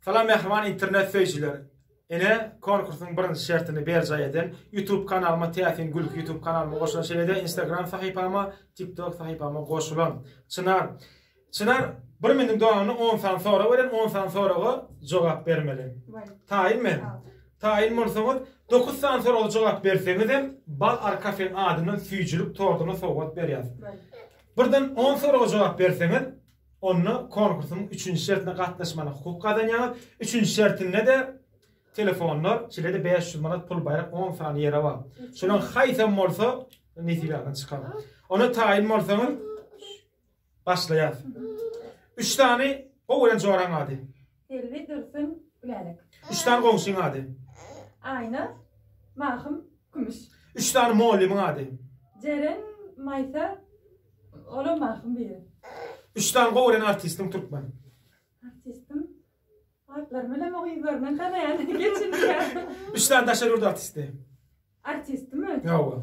Salam mähriban internet söýüjiler! Ine konkursyň birinji şertini berjaý eden YouTube kanalyma Täsin Gülki YouTube kanalyma goşulan şeýlede Instagram sahypama TikTok sahypama goşulan. Çynar Çynar bir meniň doganyny on sany sorag beren on sany soraga jogap bermeli. Taýyn men. Taýyn bolsaňyz dokuz sany soraga jogap berseňizem Bal Arkafen adyndan süýjülik tortuny sowgat berýäs. Birden on soraga jogap berseňiz onda konkursyň üçünji şertine gatnaşmalyk hukuky gazanýaňyz, üçünji şertinde-de telefonlar, şeýle-de bäş ýüz manat pul baýrak on sany ýere bar. Şolaň haýsam bolsa nesibe çykar. Ona taýyn bolsaňyz başlaýar. Üç sany gowy bolan joraň ady. Selbi, Dursun, Gülälek. Üç sany goňşyň ady? Aýna, Mahym, Kümüş. Üç sany mugallymyň ady? Jeren, Maýsa, olam Mahym biri. Üç sany gowy gören artistiň türkmen? Artistim? Atlaryny bilemok o ýüzlerinden tanaýan geçinýän. Üç sany daşary ýurt artisti? Artistimi? Hawa.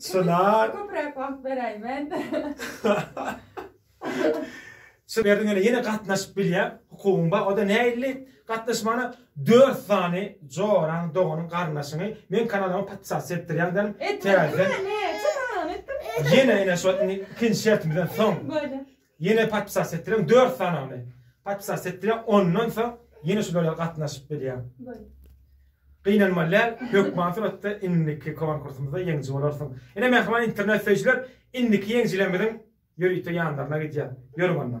Çynar. Köpräk wagt beräý men. Şu berdiň ene ýene gatnaşyp bilýä hukugyň bar. Oda näilli gatnaşmana 4 sany joraň doganyň garyndaşyňy men kanalyma podpisasiýa etdirýän derim. Täzeden. Ýene ene şu ikinji şertimizden soň. Ýene podpisas etdireň dört sanyny podpisas etdireň ondan soň ýene şulara gatnaşyp bilýäň. Gynanmaly däl, hökman suratda indiki konkursymyzda ýeňiji bolarsyň. Ine mähriban internet söýüjiler indiki ýeňjilerimiziň ýörite ýanlaryna gidýän. Ýörüň onda.